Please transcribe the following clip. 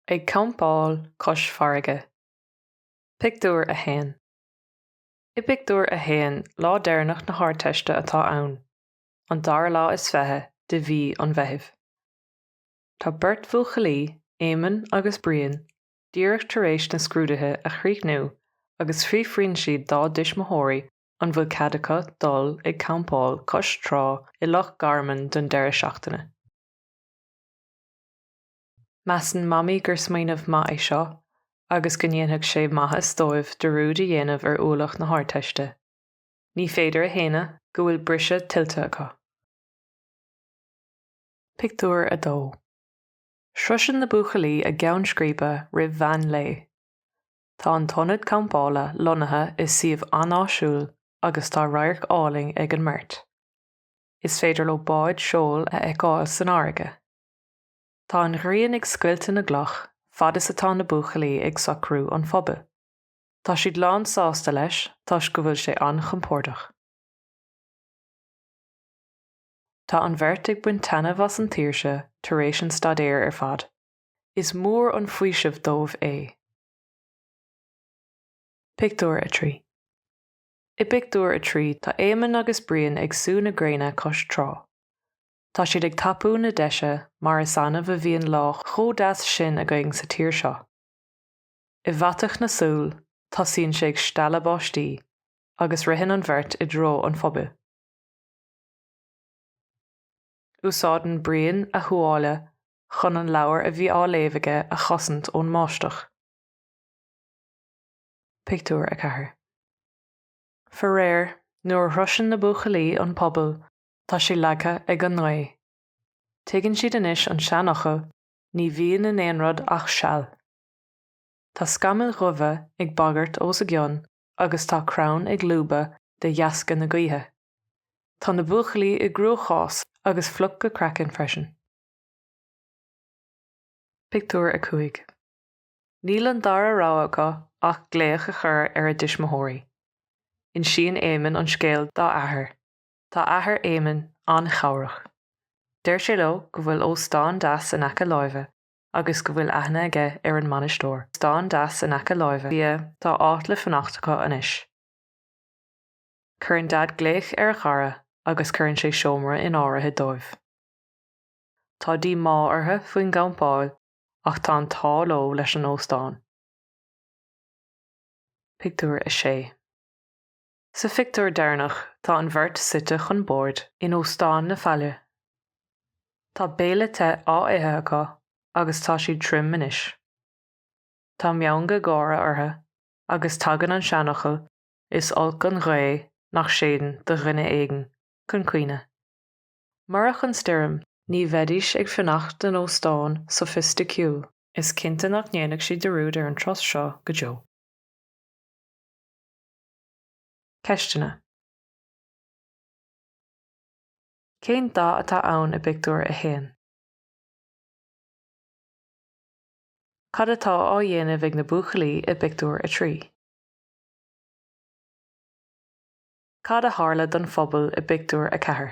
Ag campáil cois farraige. Pictiúr 1 I bpictiúr a haon, lá deireanach na hArdteiste atá ann, an dara lá is fiche de mhí an Mheithimh. Tá beirt bhuachaillí, Éamonn agus Brian, díreach tar éis na scrúduithe a chríochnú agus fiafraíonn siad dá dtuismitheoirí an bhfuil cead acu dul ag campáil cois trá i Loch Garman don deireadh seachtaine. Measann Mamaí gur smaoineamh maith é seo agus go ndéanfadh sé maitheas dóibh dearúd a dhéanamh ar ualach na hArdteiste. Ní féidir a shéanadh go bhfuil briseadh tuillte acu. Pictiúr 2 Sroiseann na buachaillí a gceann scríbe roimh mheán lae. Tá an t-ionad campála lonnaithe i suíomh an-áisiúil agus tá radharc álainn ag an mbeirt. Is féidir leo báid seoil a fheiceáil san fharraige. Tá an ghrian ag scoilteadh na gcloch fad is atá na buachaillí ag socrú an phubaill. Tá siad lán sásta leis toisc go bhfuil sé an-chompordach. Tá an bheirt ag baint taitneamh as an tsaoirse tar éis an staidéir ar fad. Is mór an faoiseamh dóibh é. Pictiúr 3 I bpictiúr a trí tá Éamonn agus Brian ag sú na gréine cois trá. Tá siad ag tapú na deise mar is annamh a bhíonn lá chomh deas sin againn sa tír seo. I bhfaiteadh na súl tosaíonn sé ag stealladh báistí agus ritheann an bheirt i dtreo an phubaill. Úsáideann Brian a thuáille chun an leabhar a bhí á léamh aige a chosaint ón mbáisteach. Pictiúr 4 Faraor, nuair a shroiseann na buachaillí an puball, tá sé leagtha ag an ngaoth. Tuigeann siad anois an seanfhocal, ní bhíonn in aon rud ach seal. Tá scamaill dhubha ag bagairt os a gcionn agus tá crann ag lúbadh de dheasca na gaoithe. Tá na buachaillí i gcruachás agus fliuch go craiceann freisin. Pictiúr 5 Níl an dara rogha acu ach glaoch a chur ar a dtuismitheoirí. Insíonn Éamonn an scéal dá athair. Tá athair Éamonn an-chabhrach. Deir sé leo go bhfuil óstán deas in aice láimhe agus go bhfuil aithne aige ar an mbainisteoir, stán deas in aice láimhe, sea, tá áit le fanacht acu anois. Cuireann Daid glaoch ar a chara agus cuireann sé seomra in áirithe dóibh. Tá díomá orthu faoin gcampáil ach tá an t-ádh leo leis an óstán. Pictiúr 6. Sa phictiúr deireanach tá an bheirt suite chun boird in Óstán na Faille. Tá béile te á ithe acu agus tá siad tirim anois. Tá meangadh gáire orthu agus tagann an seanfhocal 'is olc an ghaoth nach séideann' do dhuine éigin chun cuimhne. Murach an stoirm ní bheidís ag fanacht in óstán sofaisticiúil. Is cinnte nach ndéanfaidh siad dearúd ar an turas seo go deo. Ceisteanna, Cén dáta atá ann i bpictiúr a haon? Cad atá á dhéanamh ag na buachaillí i bpictiúr a trí? Cad a tharla don phuball i bpictiúr a ceathair?